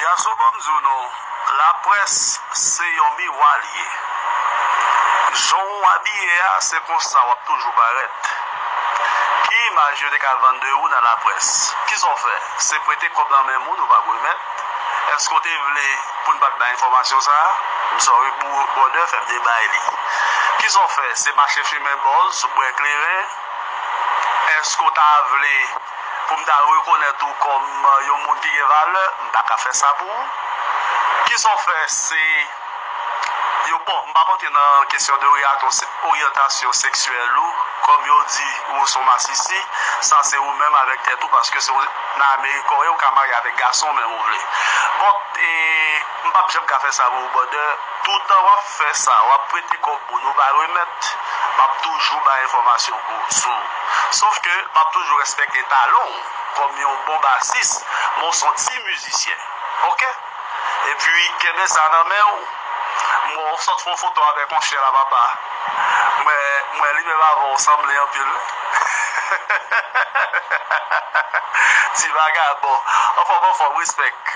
Gason banm di w non laprès se yon miwa li ye jan w abiye a se konsa wap toujou parèt ki imaj yo te ka vann de ou nan laprès kisa w fè se prete kòb nan men moun ou pa k remèt Eske ou te vle poun pat bay enfòmasyon sa? M sorry pou brother fèm te bay li. Kisa ou fè se mache fimen bòz sou bwè kleren? Eske ou ta vle poum ta rekonèt ou kòm yon moun ki gen valè? M paka fè sa pou ou. Kisa ou fè se. yo bon m pap antre nan kesyon de oryantasyon seksyèl ou kòm yo di ou son masisi sa se ou menm avèk tèt ou paske se nan amerik ou ye ou ka marye avèk gason menm ou vle bon m pap janm ka fè sa pou ou brother toutan wap fè sa wap prete kòb moun ou pa remèt map toujou bay enfòmasyon pou ou sou sof ke map toujou respekte talon ou kòm yon bon basis men w son ti mizisyen ok. Epi kenbe sa nan men ou. M wè w sot fè yon foto avèk yon chyen la papa. M wè li menm avè w sanble anpil wi. Ti vagabon. Anfòm anfòm respect.